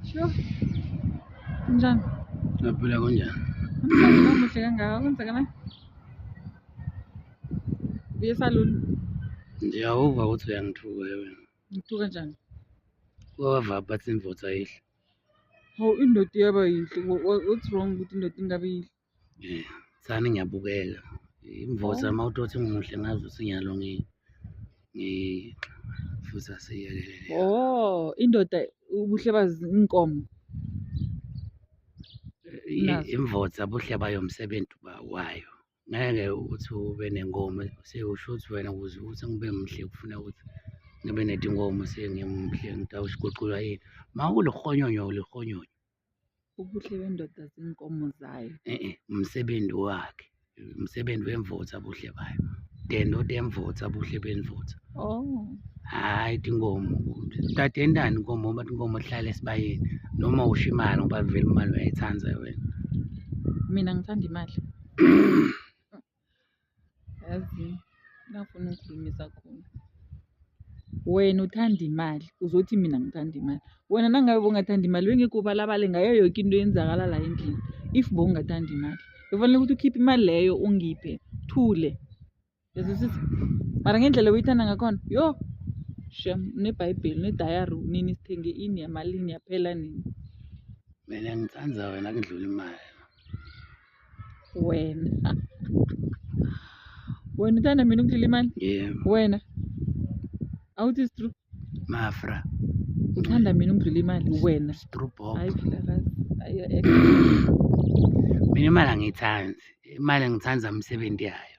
Sure. Njani? Naphila kunjani? Namhlanje umuhle kangaka kwenzeka manje? Buye saluni. Ndiyawuva ukuthi uyangithuka wena. Ngithuka njani? Wava bathi imvotsa yihle. Hawu indoda iyaba yinhle. Wha- wha- What's wrong ukuthi indoda ingabi yinhle? Eh, sani ngiyabukela imvosa uma utothi ngimuhle ngazi ukuthi ngiyalo ngi- ngi- futhi asiyekelele Oh, indoda ubuhle bazi inkomo. I- nazo. imvosa buhle bayo msebenzi ba- wayo ngeke ukuthi ube nenkomo sewusho ukuthi wena ukuze ukuthi ngibe muhle kufuna ukuthi ngibe netinkomo sengimuhle ngitawushiguqulwa yini ma ulihonyonyo ulihonyonyo ubuhle bendoda zinkomo zayo eh, eh, umsebenzi wakhe umsebenzi wemvotha buhle bayo dendoda emvotha buhle benvotha oh hhayi tinkomo tade endani inkomo uma tinkomo hlale esibayeni noma usho imali ngoba vele imali uyayithanda wena mina ngithanda imali Yazi ngafuna ukukhulumisa khona. Wena uthanda imali, uzothi mina ngithanda imali. Wena nangabe bongathanda imali bengekho ubalabale ngayo yoke into eyenzakala la endlini. If bongathanda imali, bekufanele ukuthi ukhiphe imali leyo ungiphe, thule. Uyazwisisa? Mara ngendlela oyithanda ngakhona, yho! Shem, uneBhayibheli, unedayari, unini sithenge ini yamalini yaphela nini. Mina ngithanda wena kudlula imali. wena wena uthanda mina ukudlila imali yebo wena awuthi is true mafra uthanda mina ukudlula imali wena strue bomb hayi phela kazi hayi ex mina imali angiyithandi imali ngithanda imisebenzi yayo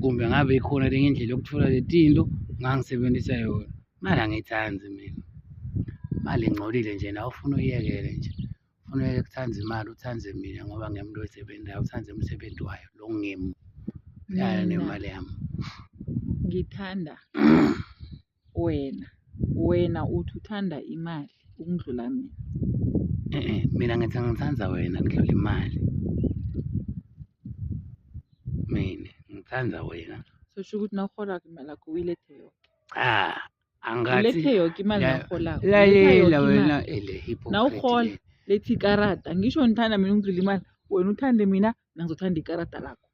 kumbe ngabe ikhona lenye indlela yokuthola letinto ngangisebenzisa yona imali angiyithandi mina imali ingcolile nje nawe ufuna uyiyekele nje ufuna uyeke kuthanda imali uthande mina ngoba ngimuntu oyisebenzayo uthande umsebenzi wayo lo ngimi yaya nemali yami ngithanda wena wena uthi uthanda imali ukundlula mina Eh, eh, mina ngithi ngithanda wena kudlula imali mina ngithanda wena so sho ukuthi nawuholako imali yakho uyilethe yoke cha angathi ulethe yoke imali Ya- nawuholako Uletha yoke lalela imali. wena ele hypocrite Nawurhola. le. lethi ikarada ngisho ngithanda mina ukudlula imali wena uthande mina nangizothanda ikarada lakho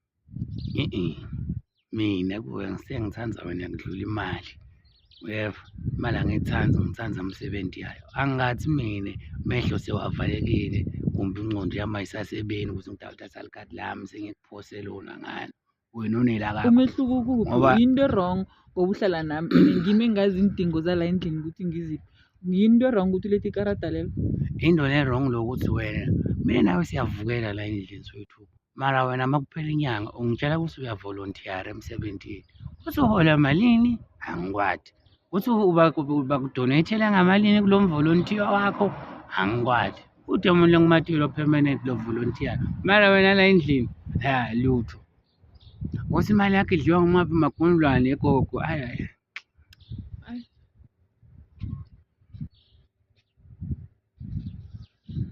mina kuwe ngisengithanda wena ngidlula imali uyeva imali angiyithandi ngithanda umsebenzi yayo angathi mina mehlo sewavalekile kumbe ingqondo yami ayisasebeni ukuthi ngidawuthi asalikati lami sengikuphose lona ngani wena unelaka umehluko ukuphi yinto erong ngoba uhlala nami and ngimi engazi iindingo zala endlini ukuthi ngiziphi yinto erong ukuthi ulethe ikarada lelo into le-wrong lokuthi wena mina nawe siyavukela la endlini soyi-two mara wena uma kuphela inyanga ungitshela ukuthi uyavolonthiyara emsebenzini uthi uhola malini angikwadi uthi bakudonethele ngamalini kulo mvolontiya wakho angikwadi ude umuntu lengumatilo permanent lo volontiya mara wena la endlini ya lutho ukuthi imali yakhe idliwa ngumaphi magunulwane egogo ayayi